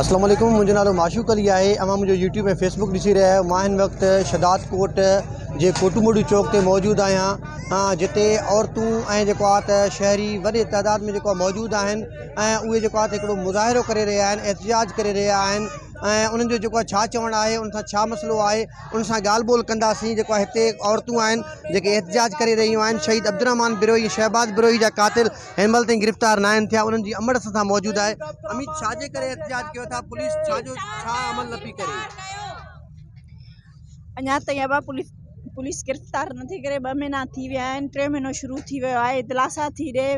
اسلام عليڪم منهنجو نالو معشوق علي آهي اوهان منهنجو يوٽيوب ۽ فيسبڪ ڏسي رهيا آهيو مان هن وقت شھداد ڪوٽ جي ڪوٽو موٽو چوڪ تي موجود آهيان جتي عورتون ۽ جيڪو آهي ته شهري وڏي تعداد ۾ جيڪو آهي موجود آهن ۽ اهي جيڪو آهي ته هڪڙو مظاهرو ڪري رهيا آهن احتجاج ڪري رهيا آهن ۽ انهن جو جيڪو آهي ڇا چوڻ آهي ان سان ڇا مسئلو آهي ان سان ڳالھ ٻولھ ڪنداسين جيڪو آهي هتي عورتون آهن جيڪي احتجاج ڪري رهيون آهن شھيد عبدالرحمان بروهي شھباز بروهي جا قاتل هن مهل تائين گرفتار ناهن ٿيا انهن جي امڙ اسان سان موجود آهي اميت ڇا جي ڪري احتجاج ڪيو ٿا پوليس ڇا جو ڇا عمل نه پي ڪري. اڃا تائين ابا پوليس پوليس گرفتار نٿي ڪري ٻه مهينا ٿي ويا آهن ٽيون مهينو شروع ٿي ويو آهي دلاسا ٿي ڏي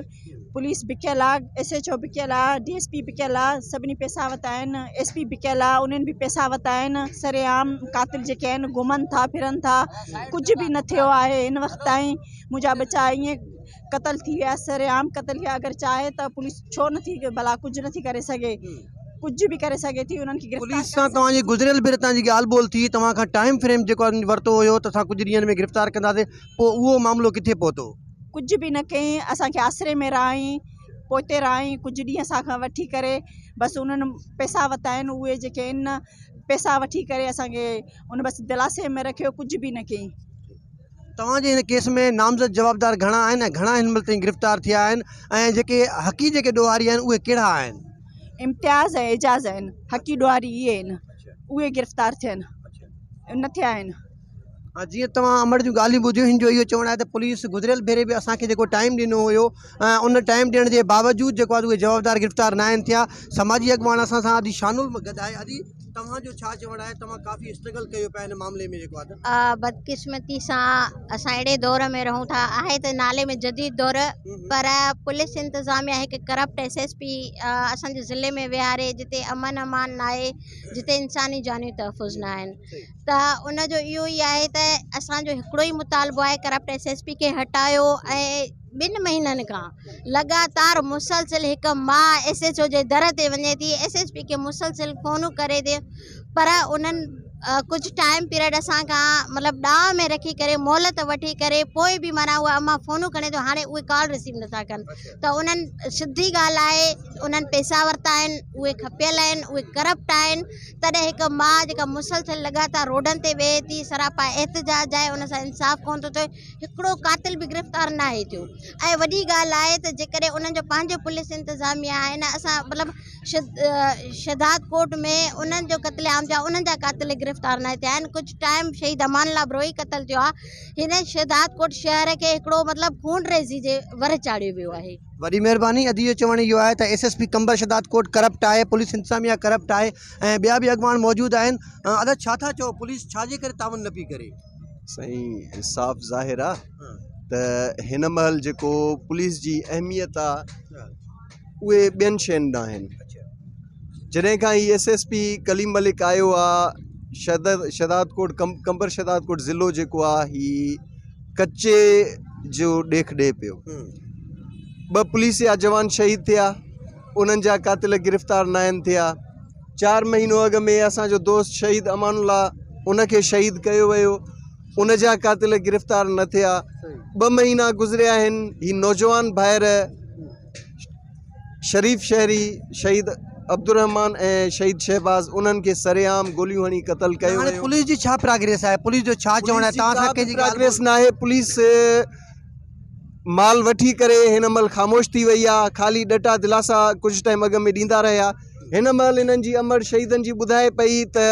پوليس بکيل آ ايس ايچ او بکيل آ ڊي ايس پي بکيل آ سڀني پيسا وتا آهن ايس پي بکيل آ انهن به پيسا وتا آهن سري عام قاتل جيڪي آهن گهمن ٿا ڦرن ٿا ڪجهه به نه ٿيو آهي هن وقت تائين منهنجا ٻچا ائين قتل ٿي ويا سر عام قتل ٿي ويا اگر چاهي ته پوليس ڇو نه ٿي ڀلا ڪجهه نه ٿي ڪري سگهي ڪجهه به ڪري سگهي ٿي انهن کي گرفتار پوليس سان توهان جي گذريل ڀيري تان جي ڳالهه ٻولهه ٿي توهان کان ٽائيم فريم جيڪو ورتو هيو ته اسان ڪجهه ڏينهن ۾ گرفتار ڪنداسين پوء اهو معاملو ڪٿي پهتو ڪجهه به نه ڪئين اسان کي آسري ۾ رهائين پوئتي رهائين ڪجهه ڏينهن اسان کان وٺي ڪري بس انهن پئسا ورتا آهن اهي جيڪي ان پئسا وٺي ڪري اسان کي ان بس دلاسي ۾ رکيو ڪجهه به نه ڪئين توهان جي هن ڪيس ۾ نامزد جوابدار گهڻا آهن ۽ گهڻا هن مهل تائين گرفتار ٿيا آهن ۽ جيڪي حقي جيڪي ڏوهاري آهن اهي ڪهڙا آهن؟ امتياز ۽ اعجاز آهن حقي ڏوهاري اهي آهن اهي گرفتار ٿيا آهن نه ٿيا آهن. جيئن توهان امڙ جون ڳالهيون ٻڌيون هن جو اهو چوڻ آهي ته پوليس گذريل ڀيري به اسان کي جيڪو ٽائيم ڏنو هيو ۽ ان ٽائيم ڏيڻ جي باوجود جيڪو آهي اهي جوابدار گرفتار ناهن ٿيا سماجي اڳواڻ اسان سان اڄ شانل به گڏ آهي اڄ توهان جو ڇا چوڻ آهي توهان ڪافي اسٽرگل ڪيو پيا ان معاملي ۾ جيڪو آهي ته بدقسمتي سان اسان اهڙي دور ۾ رهون ٿا آهي ته نالي ۾ جديد دور پر پوليس انتظاميا هڪ ڪرپٽ ايس ايس پي اسان جي ضلعي ۾ ويهاري جتي امن امان ناهي جتي انساني جانيون تحفظ نه آهن ته ان جو اهو ئي آهي ته اسان جو هڪڙو ئي مطالبو آهي ڪرپٽ ايس ايس پي کي هٽايو ۽ ٻن مهينن کان لڳاتار مسلسل هڪ ماء ايس ايڇ او جي در تي وڃي ٿي ايس ايڇ پي کي مسلسل فونون ڪري ٿي پر انهن ڪجهه ٽائيم پيريڊ اسان کان مطلب ڏانء ۾ رکي ڪري مهلت وٺي ڪري پوء به معنيٰ اها اما فونون کڻي ٿو هاڻي اهي ڪال رسيو نٿا ڪن ته انهن سڌي ڳالهه آهي انهن پيسا ورتا آهن اهي کپيل آهن اهي ڪرپٽ آهن تڏهن هڪ ماء جيڪا مسلسل لڳاتار روڊن تي ويهي ٿي سراپا احتجاج آهي ان سان انصاف ڪونه ٿو ٿئي هڪڙو قاتل به گرفتار ناهي ٿيو ۽ وڏي ڳالهه آهي ته جيڪڏهن انهن جو پنهنجو پوليس انتظاميه آهي نه اسان مطلب شهداد ڪوٽ ۾ انهن جو قتل عام ٿيو انهن جا قاتل گرفتار ناهي ٿيا آهن ڪجهه ٽائيم شهيد امان الله بروهي قتل ٿيو آهي هن شهداد ڪوٽ شهر کي هڪڙو مطلب خون ريزي جي ور چاڙهيو ويو آهي. وڏي مهرباني ادي جو چوڻ اهو آهي ته S S P Qambar Shahdad ڪوٽ ڪرپٽ آهي پوليس انتظاميه ڪرپٽ آهي ۽ ٻيا به اڳواڻ موجود آهن ادي ڇا ٿا چئو پوليس ڇا جي ڪري تعاون نه پئي ڪري. سائين صاف ظاهر آ ته هن مهل جيڪو پوليس جي اهميت آ اهي ٻين شين نه آهن جڏهن کان هي S S P Kaleem Malik آيو آ شدد شداد ڪوٽ ڪم ڪمبر شداد ڪوٽ ضلعو جيڪو آ هي ڪچي جو ڏيک ڏي پيو ٻه پوليس جا جوان شهيد ٿيا انهن جا قاتل گرفتار نه آهن ٿيا چار مهينو اڳ ۾ اسان جو دوست شهيد امان الله ان کي شهيد ڪيو ويو ان جا قاتل گرفتار نه ٿيا ٻه مهينا گذريا آهن هي نوجوان ڀائر شريف شهري شهيد عبدالرحمان ۽ شهيد شهباز انهن کي سرعام گوليون هڻي قتل ڪيو ويو پوليس جي ڇا پراگريس آهي پوليس جو ڇا چوڻ آهي تان سان ڪنهن جي پراگريس نه آهي پوليس مال وٺي ڪري هن مهل خاموش ٿي وئي آهي خالي ڏٽا دلاسا ڪجهه ٽائيم اڳ ۾ ڏيندا رهيا هن مهل هنن جي امڙ شهيدن جي ٻڌائي پئي ته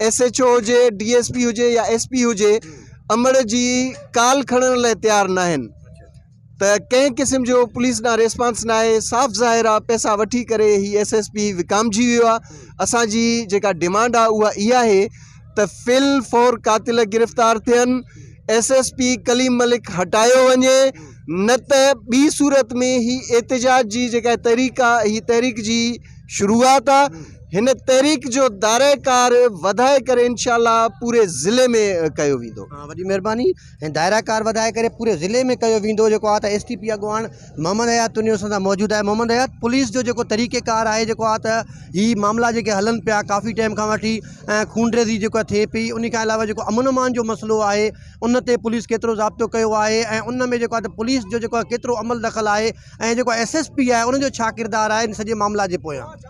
ايس ايچ او هجي ڊي ايس پي هجي يا ايس پي هجي امڙ جي ڪال کڻڻ لاء تيار نه آهن ته ڪنهن قسم جو پوليس ڏانهن ريسپانس نه آهي صاف ظاهر آ پيسا وٺي ڪري هي ايس ايس پي وڪامجي ويو آ اسان جي جيڪا ڊيمانڊ آ اها اها آهي ته في الفور قاتل گرفتار ٿين، S S P Kaleem Malik هٽايو وڃي نه ته ٻي صورت ۾ هي احتجاج جي جيڪا تحريڪ آ هي تحريڪ جي شروعات آ هن تحريڪ جو دائره ڪار وڌائي ڪري انشاء الله پوري ضلعي ۾ ڪيو ويندو. وڏي مهرباني. ۽ دائره ڪار وڌائي ڪري پوري ضلعي ۾ ڪيو ويندو جيڪو آ ته ايس ٽي پي اڳواڻ محمد حيات تنيو اسان سان موجود آهي محمد حيات پوليس جو جيڪو طريقي ڪار آهي جيڪو آ ته هي معاملا جيڪي هلن پيا ڪافي ٽائيم کان وٺي ۽ خونريزي جيڪو آ ٿئي پئي انهي کان علاوه جيڪو امن امان جو مسئلو آهي ان تي پوليس ڪيترو ضابطو ڪيو آهي ۽ ان ۾ جيڪو آ ته پوليس جو جيڪو آ ڪيترو عمل دخل آهي ۽ جيڪو ايس ايس پي آهي ان جو ڇا ڪردار آهي ان سڄي معاملا جي پويان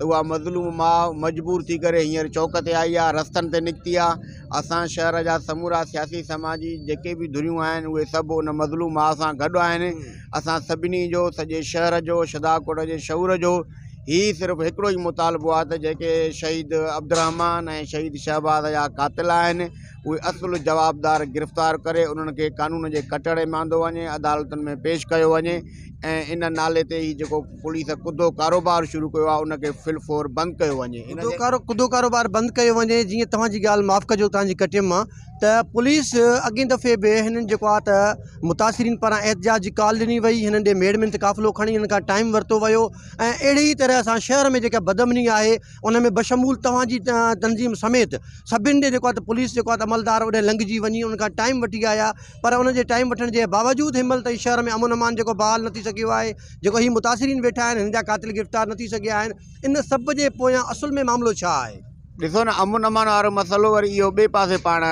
اها مظلوم ماء مجبور ٿي ڪري هينئر چوڪ تي آئي آهي رستن تي نڪتي آهي اسان شهر جا سمورا سياسي سماجي جيڪي به ڌريون آهن اهي سڀ ان مظلوم ماء سان گڏ آهن اسان سڀني جو سڄي شهر جو شدا ڪوٽ جي شعور جو هي صرف هڪڙو ئي مطالبو آهي ته جيڪي شهيد عبدالرحمان ۽ شهيد شهباز جا قاتل آهن اهي اصل جوابدار گرفتار ڪري انهن کي قانون جي ڪٽهڙي ۾ آندو وڃي عدالتن ۾ پيش ڪيو وڃي ۽ ان نالي تي هي جيڪو پوليس ڪڌو ڪاروبار شروع ڪيو آهي ان کي فل فور بند ڪيو وڃي ان جي ڪڌو ڪاروبار بند ڪيو وڃي جيئن توهان جي ڳالهه معاف ڪجو توهان جي ڪٽيم مان ته پوليس اڳين دفعي به هنن جيڪو آهي ته متاثرين پاران احتجاج جي ڪال ڏني وئي هنن ڏي ميڙ مينت قافلو کڻي هنن کان ٽائيم ورتو ويو ۽ اهڙي ئي طرح سان شهر ۾ جيڪا بدامني آهي ان ۾ بشمول توهان جي تنظيم سميت سڀن ڏي جيڪو آهي ته پوليس جيڪو آهي ته عملدار اوڏانهن لنگهجي وڃي ان کان ٽائيم وٺي آيا پر ان جي ٽائيم وٺڻ جي باوجود هن مهل تائين شهر ۾ امن امان جيڪو بحال نه ٿي سگهيو آهي جيڪو هي متاثرين ويٺا آهن هن جا قاتل گرفتار نه ٿي سگهيا آهن ان سڀ جي پويان اصل ۾ معاملو ڇا آهي. ڏسو نه امن امان وارو مسئلو وري اهو ٻئي پاسي پاڻ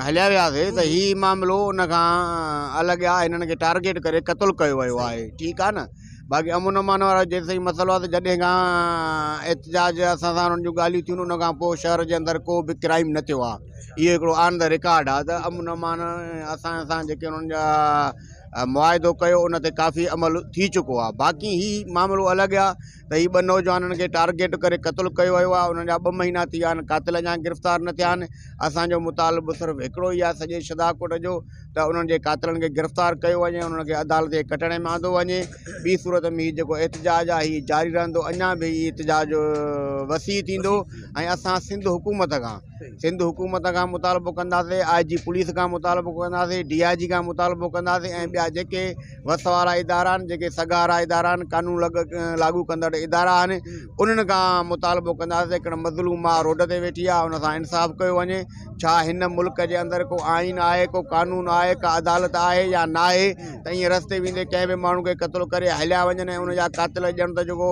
هليا وياسي ته هي معاملو ان کان الڳ آهي هنن کي ٽارگيٽ ڪري قتل ڪيو ويو آهي ٺيڪ آهي نه باقي امن امان وارا جيسين مسئلو آهي ته جڏهن کان احتجاج اسان سان انهن جون ڳالهيون ٿيون ان کان پوء شهر جي اندر ڪو به ڪرائيم نه ٿيو آهي اهو هڪڙو آن د رڪارڊ آهي ته امن امان اسان سان جيڪي انهن جا معاهدو ڪيو ان تي ڪافي عمل ٿي چڪو آهي باقي هي معاملو الڳ آهي ته هي ٻه نوجوانن کي ٽارگيٽ ڪري قتل ڪيو ويو آهي انهن جا ٻه مهينا ٿي ويا آهن قاتل اڃا گرفتار نه ٿيا آهن اسان جو مطالبو صرف هڪڙو ئي آهي سڄي شھداء ڪوٽ جو ته انهن جي قاتلن کي گرفتار ڪيو وڃي ۽ انهن کي عدالت جي ڪٽهڙي ۾ آندو وڃي. ٻي صورت ۾ هي جيڪو احتجاج آهي هي جاري رهندو اڃا به هي احتجاج وسيع ٿيندو ۽ اسان سنڌ حڪومت کان سنڌ حڪومت کان مطالبو ڪنداسين آء جي پوليس کان مطالبو ڪنداسين ڊي آء جي کان مطالبو ڪنداسين ۽ ٻيا جيڪي وس وارا ادارا آهن جيڪي سگهارا ادارا آهن قانون لاڳو ڪندڙ ادارا آهن انهن کان مطالبو ڪنداسين هڪڙي مظلوم ماء روڊ تي ويٺي آهي ان سان انصاف ڪيو وڃي ڇا هن ملڪ جي اندر ڪو آئين آهي ڪو قانون آهي ڪا عدالت آهي يا ناهي ته ايئن رستي ويندي ڪنهن به ماڻهو کي قتل ڪري هليا وڃن ۽ ان جا قاتل ڄڻ ته جيڪو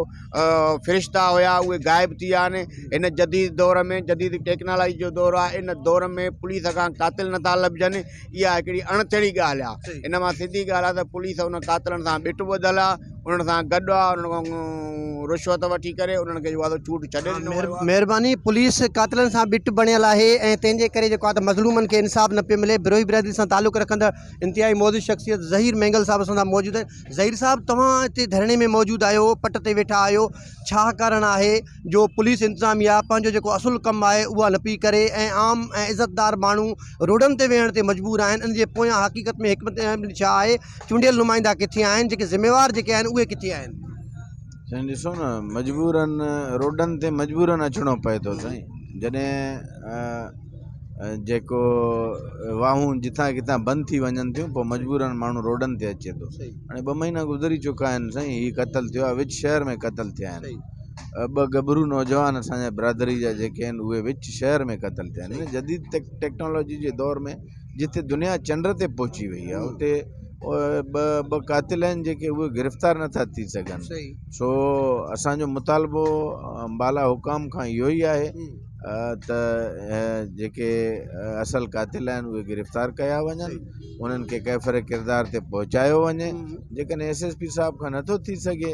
فرشتا هيا اهي غائب ٿي ويا آهن هن جديد دور ۾ جديد ٽيڪنالاجي جو دور آهي ان دور ۾ پوليس کان قاتل نٿا لڀجن اها هڪڙي اڻٿيڙي ڳالهه آ ان مان سڌي ڳالهه آ ته پوليس ان قاتلن سان ٻٽ ٻڌل آ انهن سان گڏ آ انهن کان رشوت وٺي ڪري انهن کي جيڪو آ چوٽ ڇڏي ڏنو ويو آ. مهرباني پوليس قاتلن سان ٻٽ بڻيل آهي ۽ تنهن جي ڪري جيڪو آ ته مظلومن کي انصاف نه پيو ملي بروهي برادري سان تعلق رکندڙ انتهائي معزز شخصيت ظهير مينگل صاحب اسان سان موجود آهن ظهير صاحب توهان هتي ڌرڻي ۾ موجود آهيو پٽ تي ويٺا آهيو ڇا ڪارڻ آهي جو پوليس انتظاميا پنهنجو جيڪو اصل ڪم آهي اها نه پئي ڪري ۽ عام ۽ عزتدار ماڻهو روڊن تي ويهڻ تي مجبور آهن ان جي پويان حقيقت ۾ حڪمت عملي ڇا آهي چونڊيل نمائندا ڪٿي آهن جيڪي ذميوار جيڪي آهن اهي ڪٿي آهن. سائين ڏسو نه مجبورن روڊن تي مجبورن اچڻو پئي ٿو سائين جڏهن جيڪو واهون جتان ڪتان بند ٿي وڃن ٿيون پوء مجبورن ماڻهو روڊن تي اچي ٿو هاڻي ٻه مهينا گذري چڪا آهن سائين هي قتل ٿيو آهي وچ شهر ۾ قتل ٿيا آهن ٻه ڳڀرو نوجوان اسان جا برادري جا جيڪي آهن اهي وچ شهر ۾ قتل ٿيا آهن ان جديد ٽيڪ ٽيڪنالاجي جي دور ۾ جتي دنيا چنڊ تي پهچي وئي آهي اتي ٻه ٻه قاتل آهن جيڪي اهي گرفتار نٿا ٿي سگهن سو اسانجو مطالبو بالا حڪام کان اهو ئي آهي ته جيڪي اصل قاتل آهن اهي گرفتار ڪيا وڃن انهن کي ڪيفر ڪردار تي پهچايو وڃي جيڪڏهن ايس ايس پي صاحب کان نٿو ٿي سگهي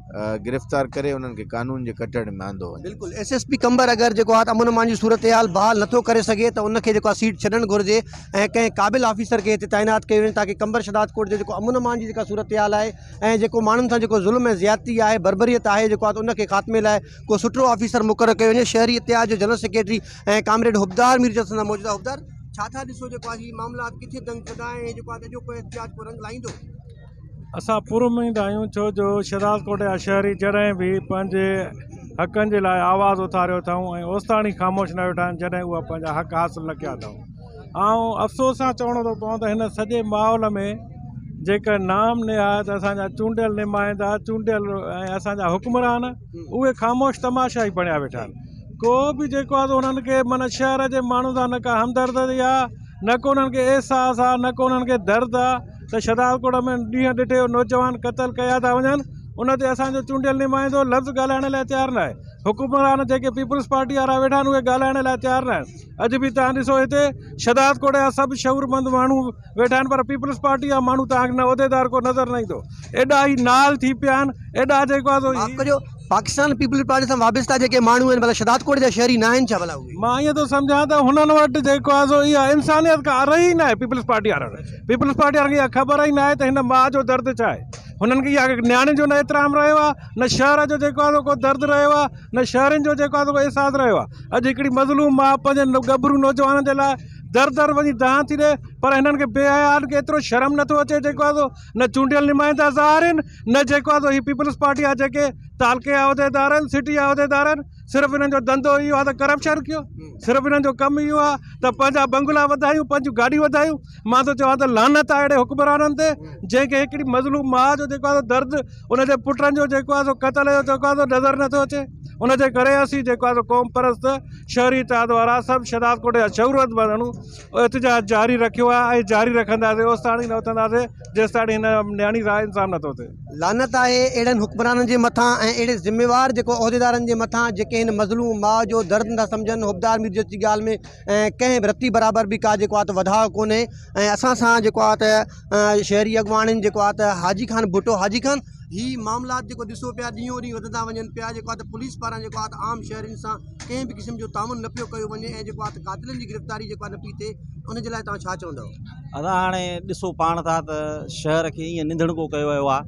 گرفتار ڪري انهن کي قانون جي ڪٽهڙي ۾ آندو وڃي. بلڪل ايس ايس پي قمبر اگر جيڪو آهي ته امن امان جي صورتحال بحال نٿو ڪري سگهي ته ان کي جيڪو آهي سيٽ ڇڏڻ گهرجي ۽ ڪنهن قابل آفيسر کي هتي تعينات ڪيو وڃي تاڪه قمبر شهداد ڪوٽ جو جيڪو امن امان جي جيڪا صورتحال آهي ۽ جيڪو ماڻهن سان جيڪو ظلم ۽ زيادتي آهي بربريت آهي جيڪو آهي ته ان کي خاتمي لاء ڪو سٺو آفيسر مقرر ڪيو وڃي شهري اتحاد جو general secretary ۽ comrade Habdar Mir جلسن سان موجود آهي حبدار ڇا ٿا ڏسو جيڪو آهي هي معاملات ڪٿي دنگ ڪندا ۽ جيڪو آهي ته اڄوڪو احتجاج ڪو رنگ لائيندو؟ اسان پور اميد آهيون ڇو جو شهداد ڪوٽ جا شهري جڏهن به پنهنجي حقن جي لاء آواز اٿاريو اٿائون ۽ اوستاڻي خاموش نه ويٺا آهن جڏهن هو پنهنجا حق حاصل نه ڪيا اٿائون آئون افسوس سان چوڻو ٿو پوان ته هن سڄي ماحول ۾ جيڪا نام نهاد اسانجا چونڊيل نمائندا چونڊيل ۽ اسانجا حڪمران اهي خاموش تماشا ئي بڻيا ويٺا آهن ڪو به جيڪو آهي انهن کي معنی شهر جي ماڻهن سان نه ڪا همدردي آهي نه ڪو انهن کي احساس آهي نه ڪو انهن کي درد آهي ته شھدالڪوٽ ۾ ڏينهن ڏٺي نوجوان قتل ڪيا ٿا وڃن ان تي اسان جو چونڊيل نمائندو لفظ ڳالھائڻ لاء تيار ناھي حڪمران جيڪي پيپلز پارٽي وارا ويٺا آھن اھي ڳالھائڻ لاء تيار ناھن اڄ به توھان ڏسو ھتي شھدالڪوٽ جا سڀ شعورمند ماڻھو ويٺا آھن پر پيپلز پارٽي جا ماڻھو توھان کي نه عھديدار ڪو نظر نه ايندو ايڏا ھي نال ٿي پيا آھن ايڏا جيڪو آھي سو معاف ڪجو پاڪستان پيپلز پارٽي سان وابسته جيڪي ماڻھو آھن ڀلا شھدالڪوٽ جا شھري ناھن ڇا ڀلا اھي مان ائين ٿو سمجھان ته ھنن وٽ جيڪو آھي سو اھا انسانيت ڪا رھي ئي ناھي پيپلز پارٽي وارن پيپلز پارٽي وارن کي اها خبر ئي ناهي ته هن ماء جو درد ڇا آهي هنن کي اها نياڻين جو نه احترام رهيو آهي نه شهر جو جيڪو آهي سو ڪو درد رهيو آهي نه شهرين جو جيڪو آهي سو احساس رهيو آهي اڄ هڪڙي مظلوم ماء پنهنجن ڳڀرو نوجوانن جي لاء در در وڃي دانهن ٿي ڏي پر هنن کي بي حيائن کي ايترو شرم نٿو اچي جيڪو آهي سو نه چونڊيل نمائندا ظاهر آهن نه جيڪو آهي سو هي پيپلز پارٽي جا جيڪي تعلقي عهديدار آهن سٽي عهديدار آهن صرف انهن جو ڌنڌو اهو آهي ته ڪرپشن ڪيو صرف انهن جو ڪم اهو آهي ته پنهنجا بنگلا وڌايون پنهنجون گاڏيون وڌايون مان ٿو چوان ته لعنت آهي اهڙي حڪمرانن تي جنهنکي هڪڙي مظلوم ماء جو جيڪو آهي درد ان جي پٽن جو جيڪو آهي سو قتل جو جيڪو آهي نظر نٿو اچي ان جي ڪري اسين جيڪو آهي سو قوم پرست شهري اتحاد وارا سڀ شهداد ڪوٽ جا شعورت ماڻهو احتجاج جاري رکيو آهي ۽ جاري رکنداسين اوستاڻي نه اٿنداسين جيستائين هن نياڻي راء انصاف نٿو ٿئي. لعنت آهي اهڙن حڪمرانن جي مٿان ۽ اهڙي ذميوار جيڪو عهديدارن جي مٿان جيڪي هن مظلوم ماء جو درد نٿا سمجهن حبدار ميرجس جي ڳالهه ۾ ڪنهن به رتي برابر به ڪا جيڪو آهي ته وڌاء ڪونهي ۽ اسان سان جيڪو آهي ته شهري اڳواڻين جيڪو آهي ته حاجي خان ڀٽو حاجي خان هي معاملات جيڪو ڏسو پيا ڏينهون ڏينهن وڌندا وڃن پيا جيڪو آهي ته پوليس پاران جيڪو آهي ته عام شهرين سان ڪنهن به قسم جو تعاون نه پيو ڪيو وڃي ۽ جيڪو آهي ته قاتلن جي گرفتاري جيڪو آهي نه پي ٿئي ان جي لاء توهان ڇا چوندؤ. ادا هاڻي ڏسو پاڻ ٿا ته شهر کي ائين ننڌڻڪو ڪيو ويو آ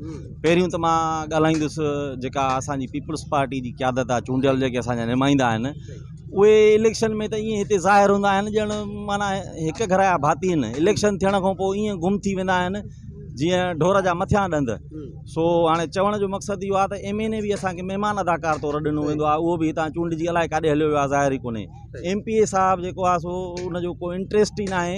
پهريون ته مان ڳالهائيندس جيڪا اسان جي پيپلز پارٽي جي قيادت آ چونڊيل جيڪي اسان جا نمائندا آهن اهي اليڪشن ۾ ته ائين هتي ظاهر هوندا آهن ڄڻ معنيٰ هڪ گهر جا ڀاتي آهن اليڪشن ٿيڻ کان پوء ائين گم ٿي ويندا آهن جيئن ڍور جا مٿيان ڏند سو هاڻي چوڻ جو مقصد اهو آ ته ايم اين اي به اسان کي مهمان اداڪار طور ڏنو ويندو آ اهو به هتان چونڊجي الائي ڪاڏي هليو ويو آ ظاهر ئي ڪونهي ايم پي اي صاحب جيڪو آ سو ان جو ڪو انٽريسٽ ئي ناهي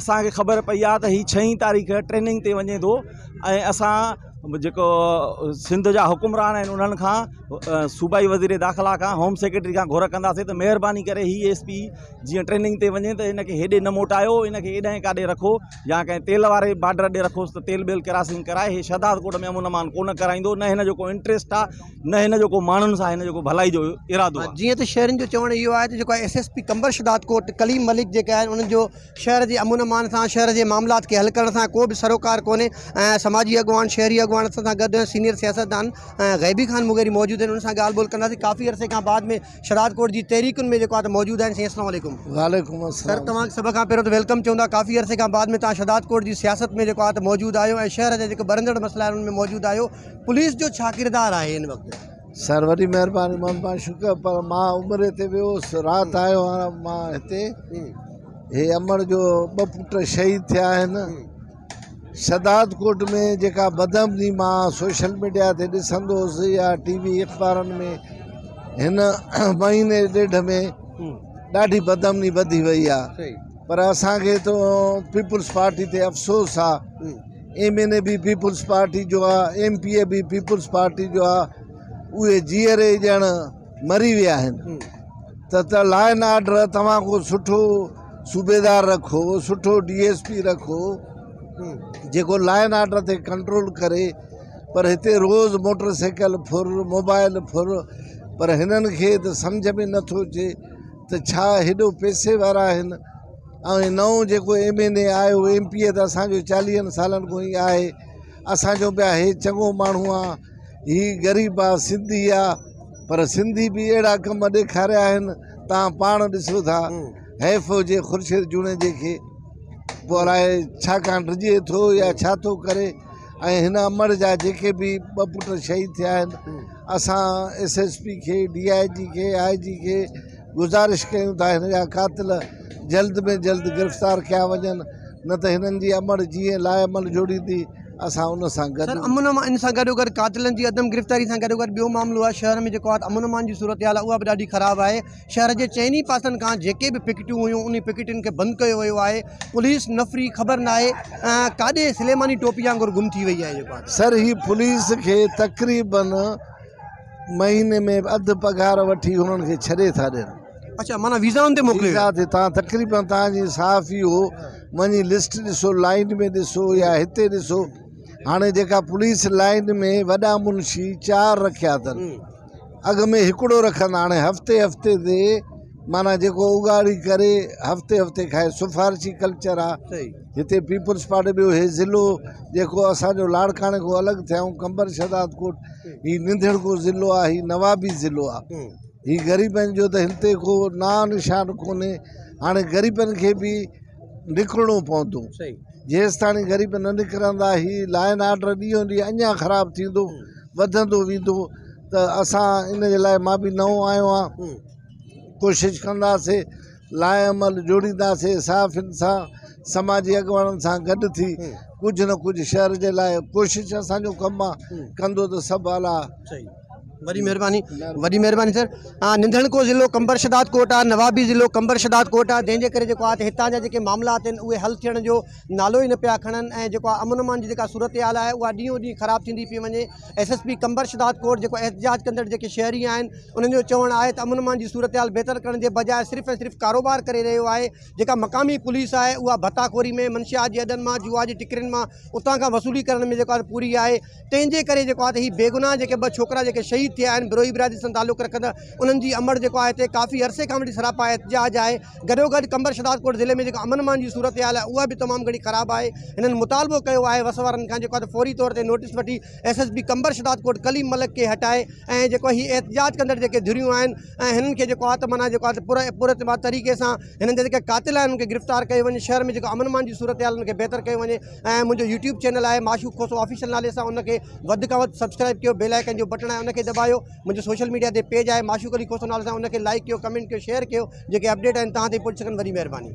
اسان کي خبر پئي آهي ته هي ڇهين تاريخ ٽريننگ تي وڃي ٿو ۽ اسان جيڪو سنڌ جا حڪمران آهن انهن کان صوبائي وزير داخلا کان هوم سيڪريٽري کان گهر ڪنداسين ته مهرباني ڪري هي ايس پي جيئن ٽريننگ تي وڃي ته هن کي هيڏي نه موٽايو هن کي هيڏانهن ڪا ڏي رکو يا ڪنهن تيل واري بارڊر ڏي رکوس ته تيل بيل ڪراسنگ ڪرائي هي شهدادڪوٽ ۾ امن امان ڪونه ڪرائيندو نه هن جو ڪو انٽريسٽ آهي نه هن جو ڪو ماڻهن سان آهي نه ڪو ڀلائي جو ارادو آهي. جيئن ته شهرين جو چوڻ اهو آهي ته جيڪو S S P Qambar Shahdad Kot Kaleem Malik جيڪي آهن انهن جو شهر جي امن امان سان شهر جي معاملات کي حل ڪرڻ سان ڪو به سروڪار ڪونهي ۽ سماجي اڳواڻ شهري اڳواڻ اسان سان گڏ سينيئر سياستدان غيبي خان مغيري موجود آهن انهن سان ڳالهه ٻولهه ڪنداسين ڪافي عرصي کان بعد ۾ شهداد ڪوٽ جي تحريڪن ۾ جيڪو آهي ته موجود آهن سائين اسلام عليڪم. وعليڪم السلام سر توهان کي سڀ کان پهريون ته ويلڪم چون ٿا ڪافي عرصي کان بعد ۾ توهان شهداد ڪوٽ جي سياست ۾ جيڪو آهي ته موجود آهيو ۽ شهر جا جيڪي ٻرندڙ مسئلا آهن انهن ۾ موجود آهيو پوليس جو ڇا ڪردار آهي هن وقت؟ سر وڏي مهرباني مھمد پاڻ شڪر پر مان عمري تي ويو هوس رات آيو هان مان هتي هي امڙ جو ٻه پٽ شهيد ٿيا آهن شھداد ڪوٽ ۾ جيڪا بدامني مان سوشل ميڊيا تي ڏسندو هوس يا ٽي وي اخبارن ۾ هن مهيني ڏيڍ ۾ ڏاڍي بدامني وڌي وئي آهي پر اسان کي تو پيپلز پارٽي تي افسوس آهي ايم اين اي به پيپلز پارٽي جو آ ايم پي اي به پيپلز پارٽي جو آ اهي جيئري ڄڻ مري ويا آهن ته ته لا اينڊ آرڊر توهان کو سٺو صوبيدار رکو سٺو ڊي ايس پي رکو جيڪو لا اينڊ آرڊر تي ڪنٽرول ڪري پر هتي روز موٽر سائيڪل ڦر موبائل ڦر پر هنن کي ته سمجھ ۾ نٿو اچي ته ڇا هيڏو پئسي وارا آهن ۽ هي نئون جيڪو ايم اين اي آيو ايم پي اي ته اسان جو چاليهن سالن کان ئي آهي اسان چئون پيا هي چڱو ماڻهو آ هي غريب آ سنڌي آ پر سنڌي به اهڙا ڪم ڏيکاريا آهن توهان پاڻ ڏسو ٿا حيف هجي خورشيد جوڻيجي کي پوء الاء ڇا ڪان ڊڄي ٿو يا ڇا ٿو ڪري ۽ هن امڙ جا جيڪي به ٻه پٽ شهيد ٿيا آهن اسان ايس ايس پي کي ڊي آء جي کي آء جي کي گذارش ڪيون ٿا هن جا قاتل جلد ۾ جلد گرفتار ڪيا وڃن نه ته هنن جي امڙ جيئن لاعمل جوڙيندي اسان ان سان گڏ. سر امن امان ان سان گڏوگڏ قاتلن جي عدم گرفتاري سان گڏوگڏ ٻيو معاملو آهي شهر ۾ جيڪو آت امن امان جي صورتحال آهي اها به ڏاڍي خراب آهي شهر جي چئن ئي پاسن کان جيڪي به پڪيٽيون هيون انهي پڪيٽين کي بند ڪيو ويو آهي پوليس نفري خبر ناهي ڪاڏي سليماني ٽوپي آنگر گم ٿي وئي آهي جيڪو آت. سر هي پوليس کي تقريبن مهيني ۾ اڌ پگهار وٺي هنن کي ڇڏي ٿا ڏين. اڇا معنيٰ ويزائن تي موڪليو ويزا تي تان تقريبن تان جي صحافي هو وڃي لسٽ ڏسو لائن ۾ ڏسو يا هتي ڏسو هاڻي جيڪا پوليس لائن ۾ وڏا منشي چار رکيا اٿن اڳ ۾ هڪڙو رکندا هاڻي هفتي هفتي تي معنيٰ جيڪو اگهاڙي ڪري هفتي هفتي کائي سفارشي ڪلچر آ هتي پيپلز پارٽي ٻيو هي ضلعو جيڪو اسان جو لاڙڪاڻي کان الڳ ٿيائون قمبر شهداد ڪوٽ هي ننڌڻڪو ضلعو آ هي نوابي ضلعو آ هي غريبن جو ته هن تي ڪو ناء نشان ڪونهي هاڻي غريبن کي به نڪرڻو پوندو جيستاڻي غريب نه نڪرندا هي لا اينڊ آرڊر ڏينهون ڏينهن اڃا خراب ٿيندو وڌندو ويندو ته اسان ان جي لاء مان به نئون آيو آ ڪوشش ڪنداسين لاء عمل جوڙينداسين صحافين سان سماجي اڳواڻن سان گڏ ٿي ڪجهه نه ڪجهه شهر جي لاء ڪوشش اسان جو ڪم آهي ڪندو ته سڀ اعليٰ وڏي مهرباني وڏي مهرباني سر ننڌڻڪو ضلعو قمبر شداد ڪوٽ آ نوابي ضلعو قمبر شداد ڪوٽ آ جنهن جي ڪري جيڪو آهي هتان جا جيڪي معاملا آهن اهي حل ٿيڻ جو نالو ئي نه پيا کڻن ۽ جيڪو آهي امن امان جي جيڪا صورتحال آهي اها ڏينهون ڏينهن خراب ٿيندي پئي وڃي S S P Qambar Shahdad Kot جيڪو احتجاج ڪندڙ جيڪي شهري آهن انهن جو چوڻ آهي ته امن امان جي صورتحال بهتر ڪرڻ جي بجاء صرف ۽ صرف ڪاروبار ڪري رهيو آهي، جيڪا مقامي پوليس آهي اها ڀتا خوري ۾ منشيات جي اڏن مان، جوا جي ٽڪرين مان اتان کان وصولي ڪرڻ ۾ جيڪو آهي پوري آهي، تنهن جي ڪري جيڪو آهي هي بيگناهه جيڪي ٻه ڇوڪرا جيڪي شهيد ٿيا آهن بروهي برادري سان تعلق رکندڙ انهن جي امڙ جيڪو آهي هتي ڪافي عرصي کان وٺي سراپا احتجاج آهي، گڏوگڏ قمبر شهدادڪوٽ ضلعي ۾ جيڪا امن امان جي صورتحال آهي اها به تمام گهڻي خراب آهي، هنن مطالبو ڪيو آهي وس وارن کان جيڪو آهي ته فوري طور تي نوٽيس وٺي. S S P Qambar Shahdad Kot Kaleem Malik کي ھٽائي ۽ جيڪو ھي احتجاج ڪندڙ جيڪي ڌريون آھن ۽ ھنن کي جيڪو آ ته معنيٰ جيڪو آ ته پر پر اعتبار طريقي سان ھنن جا جيڪي قاتل آھن انھن کي گرفتار ڪيو وڃي شھر ۾ جيڪو امن امان جي صورتحال ان کي بھتر ڪيو وڃي ۽ منھنجو يوٽيوب چينل آھي معشوق کوسو آفيشل نالي سان ان کي وڌ کان وڌ سبسڪرائب ڪيو بيل آئيڪن جو بٽڻ آھي ان کي دٻايو منھنجو سوشل ميڊيا تي پيج آھي معشوق علي کوسو نالي سان ان کي لائڪ ڪيو ڪمينٽ ڪيو شيئر ڪيو جيڪي اپڊيٽ آھن تھان تائين پھچي سگھن وڏي مھرباني.